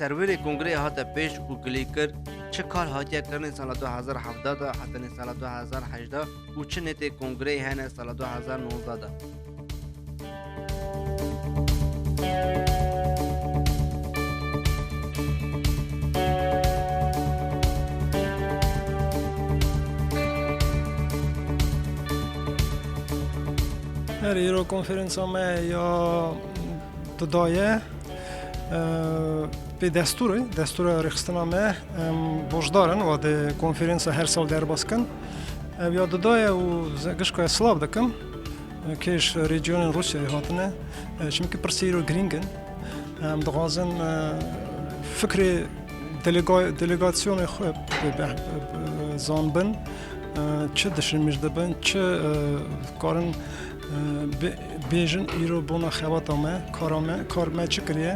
Serwênê kongreyê hate pêş û gilî kir çi kar hatiye kirinê sala du hezar hevdeh de hetanê sala du hezar hejdeh û çi nêtê kongreyê hene sala du hezar nondeh de. Îro konferansa me ya di dayê pê destûrê destûra rêxistina me em boşdar in wadê konferansa her sal derbas kin. Ev ya di dayê û gişka silav dikim. Kêş rejyonên Rûsyayê hatine çimkî pir sêr û girîng in. Em dixwazin fikrê delegasyonê xwe zanbin çi dişimîr dibin çi karin bêjin îro bona xebata me kara me kar me çi kiriye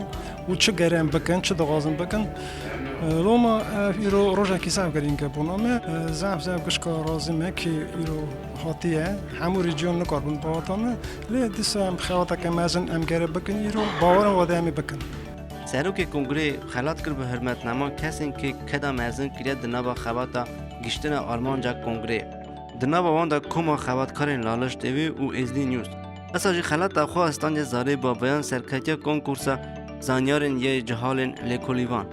û çi gere em bikin çi dixwazin bikin. Loma îro rojekî zaf girîng e bona me zaf zaf gişka razî me kê îro Hatiye, hemû rejyon nikarbin bawata me, lê disa em xelateke mezin em gere bikin îro, bawerim wede em ê bikin. Serokê Kongreyê xelat kir bi hirmetnama kesên kê keda mezin kiriye di nava xebata gihiştina armanca kongreyê. Di nava wan de Koma Xebatkarên Laliş TV û Êzlî News. Esa jî xelata xwe Stanjê Zarê Babayan serketiya konkursa zanyarên yê Cihalên Lêkolîvan.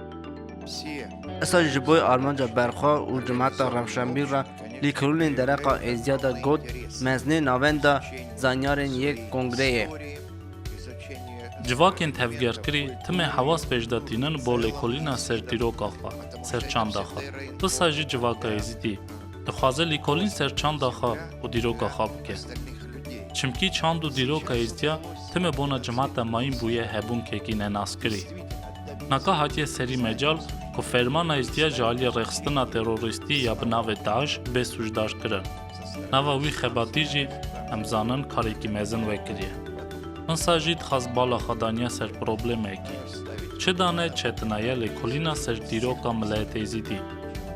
Esa jî ji bo armanca berxwe û cumeta rewşenbîr re, Lêkolînên dereqa Êziya de got, Meznê navenda zanyarên yê kongreyê. Civakên tevgerkirî timê hewas pêş de tînin bo lêkolîna sertîroka xwe, serçanda xwe. Wisa jî civaka Êzidî dixwaze lêkolîn serçanda xwe û dîroka xwe bike. Çimkî çand û dîroka Êzidiya timê bona cemata mayîn bûye hebûnkekî nenaskirî. Naka hatiye serî mecal ku fermana yîstiya ji aliyê rêxistina terorîstî ya bi navê DAIŞ bê sûcdarkirin. Nava wî xebatî jî em zanin karekî mezin wekiriye. Insa jî dixwaz bala xwe daniya ser problemekî. Çida ne çetina ye lê kulîna ser dîroka miletê Êzîdî.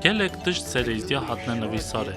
Gelek tişt serê Êzdiya hatine nivîsarê.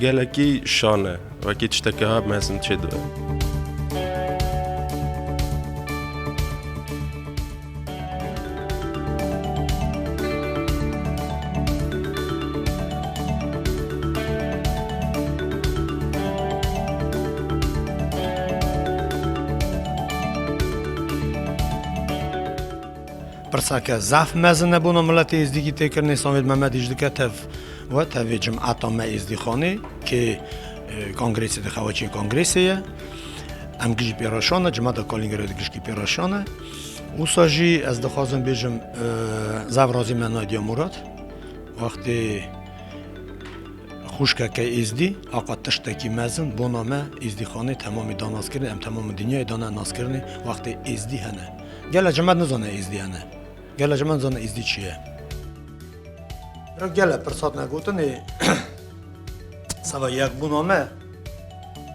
Gelekî şan e, wekî tişteke ha mezin çêdibe. Pirseke zaf mezin e bona miletê Êzdîgî têkirinê Samed Mehmed î ji dike tev. We tevî cumeta me Êzdî Xanê kê kongrêsê de xewaçiyê kongrêsê ye. Em gijî pê re şane, cumeta Kalîngre de gişkî pê re şane. Wisa jî ez dixwazim bêjim zaf razî me Nadia Murad. Wextê xûşkeke Êzdî aqa tiştekî mezin bona me Êzdî Xanê temamî da naskirinê, em temamî dinyayê dane naskirinê wextê Êzdî hene. Gela cumet nizane Êzdî hene. Gela cumet nizane Êzdî çi ye. Îro gele pirs hatine gotin ê seba yekbûna me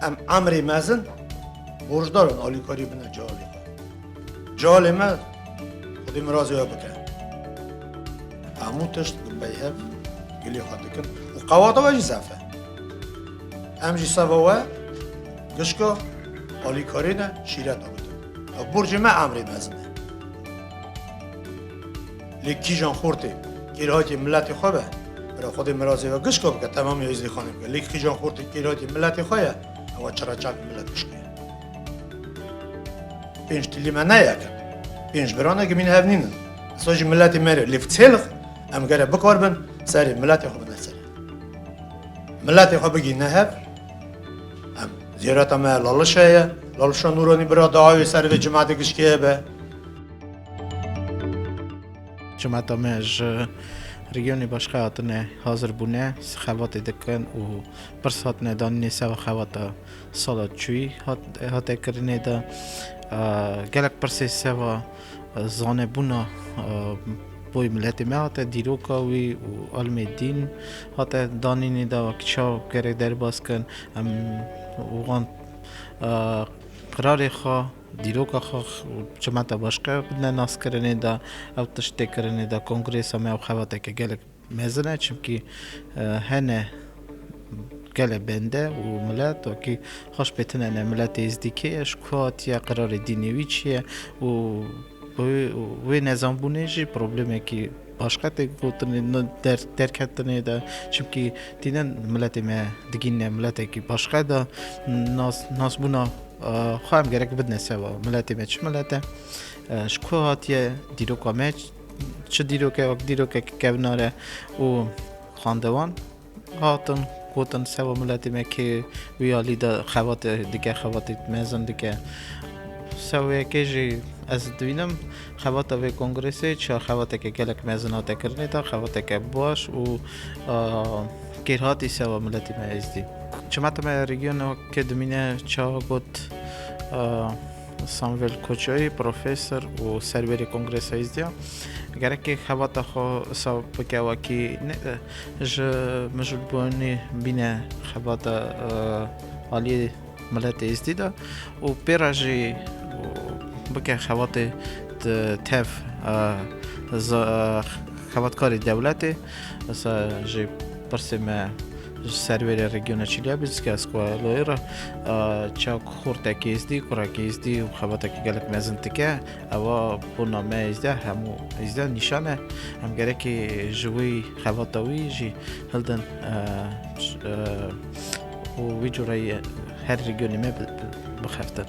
em emrê mezin borcdar in alîkarî bine cealê xwe. Cealê me xwedî mirazê we bike. Hemû tişt bi peyhev gilê xwe dikin û qewata we jî zef e. Em jî seba we gişka alîkarê de şîret abitin. Ev borcê me emrê mezin e. Lê kîjan xortê kêrhatî miletê xwe be? Bira xwedê mirazê ve gişka bike, temamî hêzdîxanê bike. Lê kîjan xortê kêrhatî miletê xwe ye, ewa çira çavê milet gişkî ye. Pênc tilî me ne yek in. Pênc biran e gimîn hev nîn in. Esa jî miletê me re lêvtêl em gere bikarbin serê miletê xwe bine ser. Miletê xwe bigîne hev. Em zêreta me lalişe ye. Lalişa Nûranî bira dawê ser vê cimate gişkê ye be. Çimeta me ji rîyonê başka hatine hazirbûne xebatê dikin û pirs hatine danînê seva xebata sala çûyî hate kirinê de gelek pirsê seva zanebûna boy milletê me hate dîroka wî û almê dîn hate danînê de çaw gerek derbas kin em wan qirarê xwe Dîroka xwe û çimenta başka ew ne naskirinê da, ew tişt tê kirinê da. Kongresa me ew xebateke gelek mezin e çimkî hene gele bende û milet wekî xweş pê tune ne miletê Êzdîkê ye ji ku hatiye, qirarê dînê wî çi ye û Wê nezanbûnê jî problemekî başqetêk bo tenê derketinê de çimkî tîne miletê me digîne miletekî başqe de nasbûna xwe em gerek bidine sewa miletê me çi milet e ji ku hatiye dîroka me çi dîrok e wek dîrokekî kevnar e û xandewan Hatin gotin seba miletê me kê wî alî de xebat dike, xebatê mezin dike. Sewiyekê jî ez dibînim xebata vê kongresê çi ya xebateke gelek mezin hate kirinê de xebateke baş û kêrhatî seba miletê me êzdî. Çimeta me ya rîgîyona ke dimîne çi ya got Samvel Koçoyî profesor û serverê kongresa êzdîya. Gerekê xebata xwe isaf bike wekî Ji mijûlbûnê bîne xebata aliyê miletê Êzidî de û pê re jî bike xebatê di tev xebatkarê dewletê. Esa jê pirsê me ji serwêrê rejyona Çîlyabîr zikê ez ku loyê re çawa ku xortekê Êzidî, kurekê Êzidî û xebatekî gelek mezin dike, Ewa bona me ejder hemû ejder nîşan e. Em gerekê ji wî xevata wî jî hildin û wî cureyê her rîgyonê me bixeftin.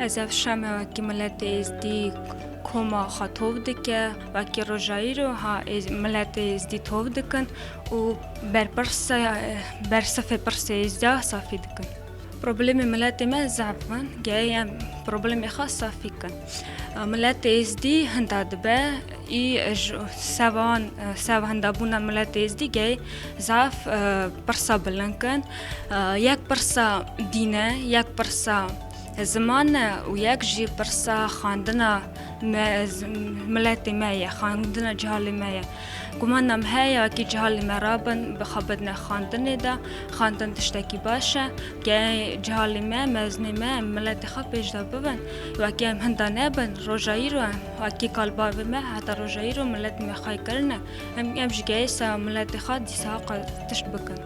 Ez ev şeme wekî miletê êzdî koma xwe tov dike, wekî rojayî re wiha miletê êzdî tov dikin û berpirsa ber sifê pirsê êzda safî dikin. Problemê miletê me zehf in, geh em problemê xwe safî kin. Miletê êzdî hinda dibe ê ji sevan sev hinda bûna miletê êzdî geh zehf pirsa bilind kin. Yek pirsa dîn e, yek pirsa ziman e û yek jî pirsa xandina miletê me ye, xandina cihalê me ye. Guman nam heya kî cihalê me rabin bixebitne xandinê de, xandin tiştekî baş e. Geyê cihalê me, mezinê me, miletê xwe pêş de bibin. Wekî em hinda nebin, roja îro em wekî kalbavê me heta roja îro miletê me xwe kirine. Em jî geyê sewa miletê xwe dîsa qe tişt bikin.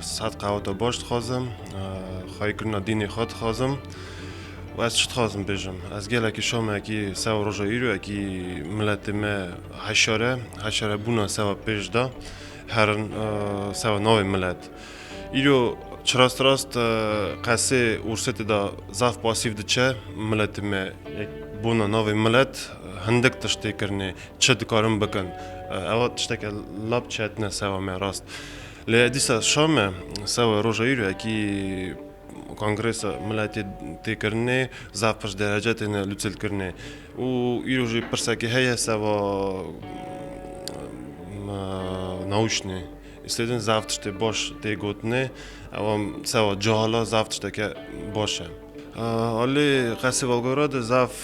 Saet qaweta baş dixwazim, xwayê kirina dînê xwe dixwazim û ez çi dixwazim bêjim. Ez gelekî şamekî sewa roja îro ekî miletê me heşare heşarebûna sewa pêş da herin sewa navê milet. Îro çi rast rast qesê ûrsêtê da zaf pasîv diçe miletê me bona navê milet hindik tiştê kirine. Çi dikarin bikin? Ewa tişteke lab çetine sewa me rast. Lê dîsa şame sewa roja îro ekî kongresa miletê tê kirinê zaf qij derece têne lûtil kirinê û îro jî pirsekê heye sewa newişnê. Îstêdin zaf tiştê baş tê gotinê ewa sewa cihla zaf tişteke baş e. Alî qesê Volgograd de zaf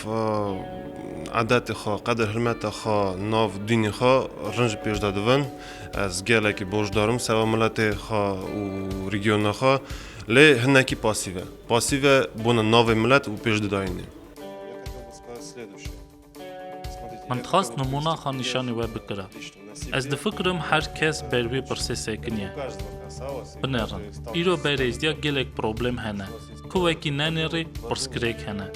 edetê xwe, qedir hirmeta xwe, nav dînê xwe rinc pêş de dibin. Ez gelekî borcdar im seva miletê xwe û rîgiyona xwe. Lê hinekî pasîve. Pasîve bûna navê milet û pêşdidayînê. Min dixwest nimûna xwe nîşanî we bikira. Ez difikirim her kes ber vê pirsê sekiniye. Binerin, îro berêzdiya gelek problem hene ku wekî nenêrî pirsgirêk hene.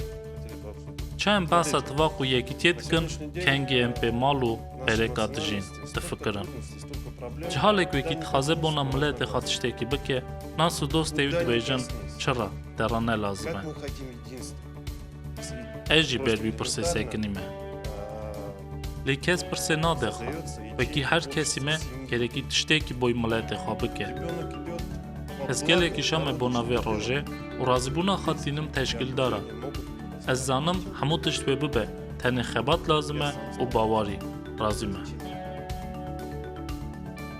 Çi em behsa tivak û yekîtiyê dikin, kengê em pê mal û perêka dijîn, difikirim. Cihalek wekî dixwaze bona miletê xwe tiştekî bike, nas û dostê wî dibêjin, çira, te re ne lazim e. Ez jî ber vî pirsê sekinî me. Lê kes pirsê nade xwe. Wekî her kesî me gerekî tiştekî boy miletê xwe bike. Ez gelek îşa me bona vê rojê û razîbûna xwe tînim teşkîldara. Ez zanim hemû tişt wê bibe, tenê xebat lazim e û bawarî. Razî me.